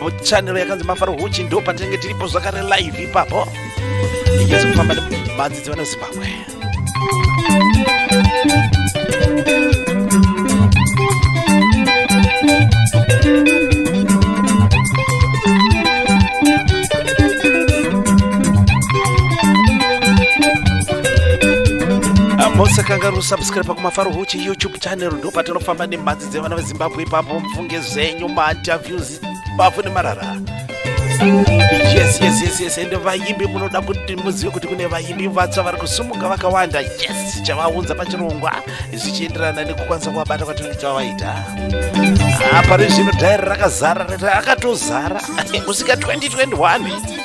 muchanero yakanzi mafaro huchi ndo patinenge tiripo zvakare live ipapo inyatso kufamba nemadzidzi vana zimbabwe mose kangaroo subscribe pakumafaro huchi youtube channel ndopatinofamba nemhanzi dzevana vezimbabwe ipapo mufunge zvenyu mainterviews bafu nemarara yes yes yes yes ende vaimbi munoda kuti muzive kuti kune vaimbi vatsva vari kusumuka vakawanda yes chavaunza pachirongwa zvichienderana nekukwanisa kuvabata kwatinenge tavaita apa ah, rezvino dhairi rakazara akatozara kusvika 2021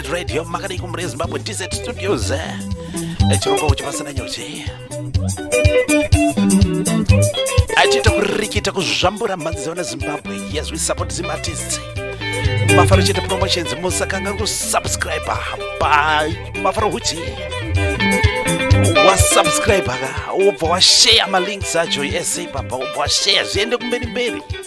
Impact Radio makadai kumure Zimbabwe DZ Studios eh, chirongwa kuchi pasina nyuchi achiita kurikita kuzvambura mhanzi dzevana Zimbabwe yes we support Zim artists mafaro chete promotions musakanga kusubscribe pa mafaro huchi wasubscribe ka ubva washare malinks acho ese ipapa ubva washare zviende kumberi mberi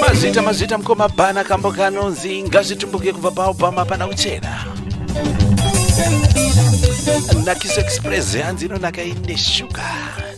mazvita mazvita mukoma bhana kambo kanonzi ngazvitumbuke kubva paobama pana kuchena nakiso express hanzi inonaka ine shuga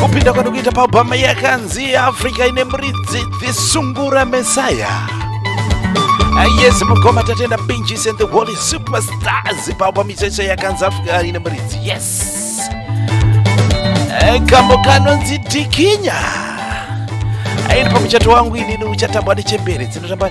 kupinda kwati kuita paubhama yakanzi africa ine muridzi dhisungura mesaya yes mukoma tatenda pinjis and the holy superstars paubhama ichoicho yakanzi africa ine muridzi yes eh, kambo kanonzi dikinya airi pamuchato wangu inini uchatambwa nechembere dzinotamba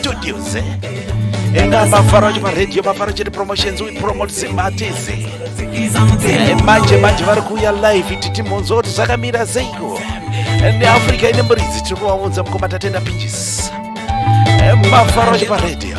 studios enda mafaro acho paradio mafaro chete promotions we promote simatizi eh, manje manje vari kuuya live titi mhonzo kuti zvakamira seiko eh, neafrica ine muridzi tiri kuvaunza mukoma tatenda pinjis eh, mafaro acho paradio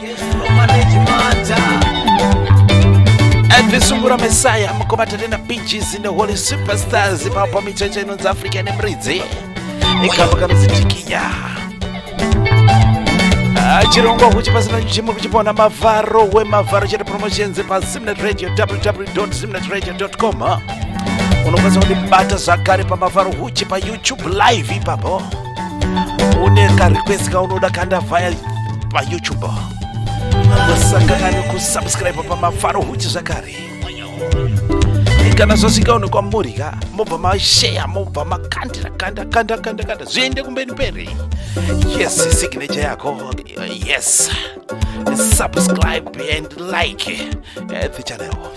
Visungura Messiah mukoma tatenda BGs in the Holy Superstars ipapo micheche inonzi Africa nemuridzi ikamba kanonzi Tikinya ah, chirongwa kuchi pasina chimwe kuchipona mavharo wemavharo chete promotions pasimnet radio www.simnet radio.com ah. unokwanisa kundibata zvakare pamavharo huchi payoutube live ipapo une karequest kaunoda kanda vaya payoutube musangana nekusubscribe pamafaro huchi zvakare kana zvasvika uno kwamuri ka mobva masheya mobva makandira kanda kanda kanda kanda zviende kumberi mberi yes signature yako yes subscribe and like eh, the channel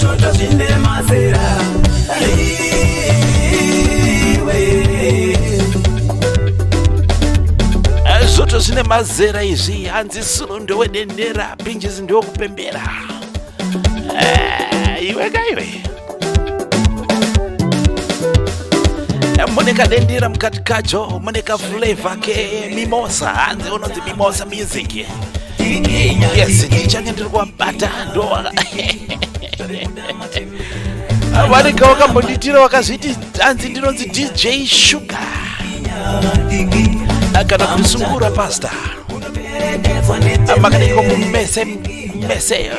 Shota zvine mazera zvoto zvine mazera izvi hanzi suro ndowedenera pinjisi ndokupembera eh, iwe kaiwe eh, mune kadendera mukati kacho mune kaflavor kemimosa hanzi unonzi mimosa music yes ndichange ndiri kuwabata ndoa wanika wakambonditira wakazviti hanzi ndinonzi dj shuga kana kusungura pasta makadiko mumese mese eh,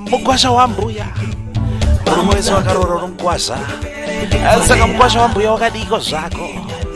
mukwasha wambuya murume wese wakarora unomukwasha saka mukwasha wambuya wakadiko zvako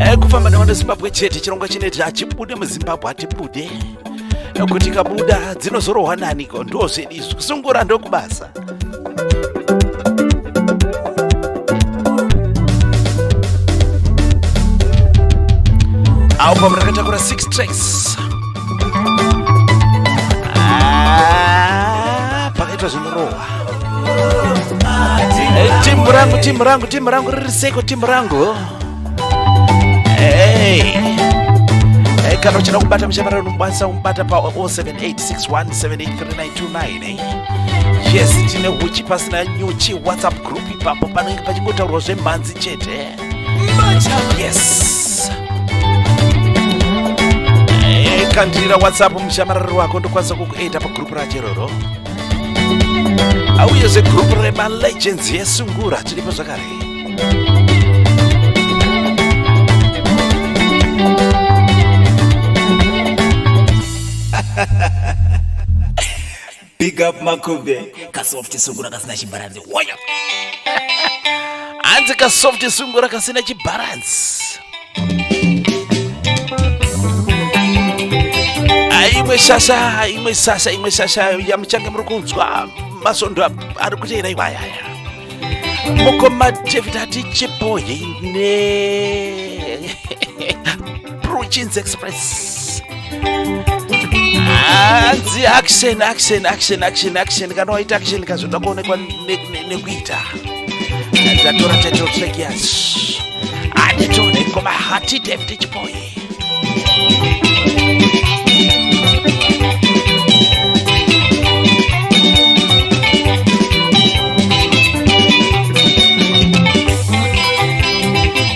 eh, kufamba nevanhu zimbabwe chete chirongwa chineti hachibude muzimbabwe hatibude eh, kuti kabuda dzinozorohwa naniko ndozvedi izvi kusungura ndokubasa awo pamwe rakatakura 6 tracks ah, pakaitwa zvinorohwa Timu rangu, timu rangu, timu rangu riri seko, timu rangu. Hey. Hey, kana uchida kubata muchamara unokwanisa kumubata pa 0786178392 yes tine huchi pasina nyuchi whatsapp group ipapo panenge pachingotaurwa zvemhanzi chete yes Hey, kandira whatsapp mushamarari wako ndokwanisa kukuita pagrupu racho iroro auye zvegroup remalegends yesungura tiripo zvakare big up makube kasoft sungura kasina chimbaranzi waya hanzi ka soft sungura kasina chibaransi imwe shasha imwe sasha imwe shasha yamuchange muri kunzwa masondo ari kuteera iwayaya mukoma david atichipohine Prochins Express. Hanzi action action action action action kana waita action kazvoda kuonekwa nekuita. Ndatora title track yacho. Anditone ngoma hati David Chipoye.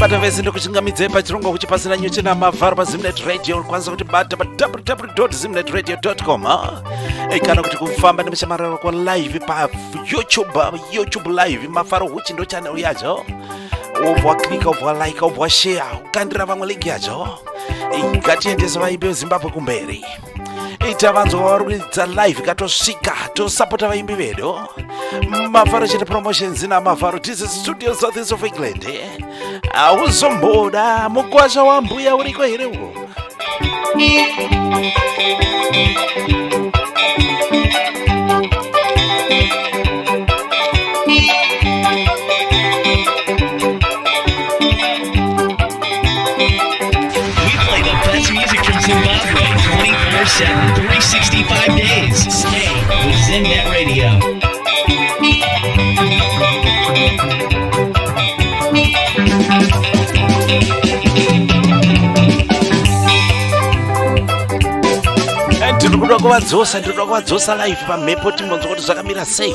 bata vese ndokuchingamidzei pachirongwa kuchi pasina nyuchi namavharo pazimnet radio unokwanisa kuti bata pa www zimnet radio com ei kana kuti kufamba nemushamararo kwa live pa youtube youtube live mafaro huchi ndo chanel yacho obva klika obva like obva share ukandira vamwe link yacho ngatiendese vaimbi vezimbabwe kumberi ita vanzwa varuridza live katosvika tosapota vaimbi vedu mafaro chete promotions ina mafaro tisi studio southeast of england hauzomboda mukwasha wambuya uriko here uwo tiri kuda kuvadzosa tiri kuda kuvadzosa live pamhepo timbonzwa kuti zvakamira sei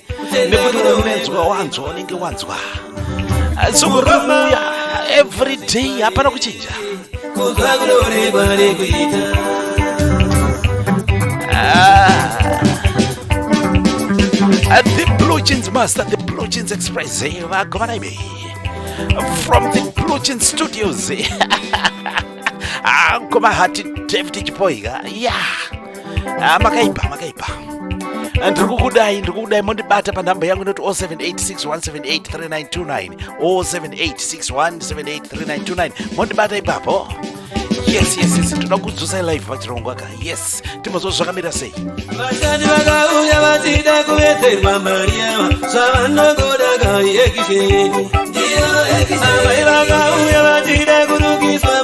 nekuti unonetswa wanzwa unenge wanzwa sokuromuya every day hapana kuchinja ah. the blue jeans master the blue jeans express eh, vagovana imi from the blue jeans studios eh. angoma ah, hati david chipoika yeah ah, makaipa makaipa ah, ndiri kukudai ndiri kukudai mondibata panhamba yangu inoti 0786178392 0786178392 mondibata ipapo yes yes yes toda kudzosai live vachirongwa ka yes timozvo zvakamira sei vashandi vakauya vachida kuwedzerwa mari yava zvavanogoda kaekishedu amai vakauya vachida kurukiswa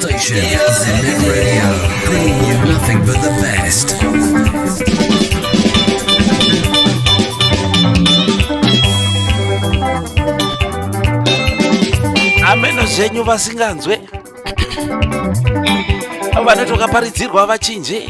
Station Zimit Radio, bringing you nothing but the best. ameno zvenyu vasinganzwe vanotoka paridzirwa vachinje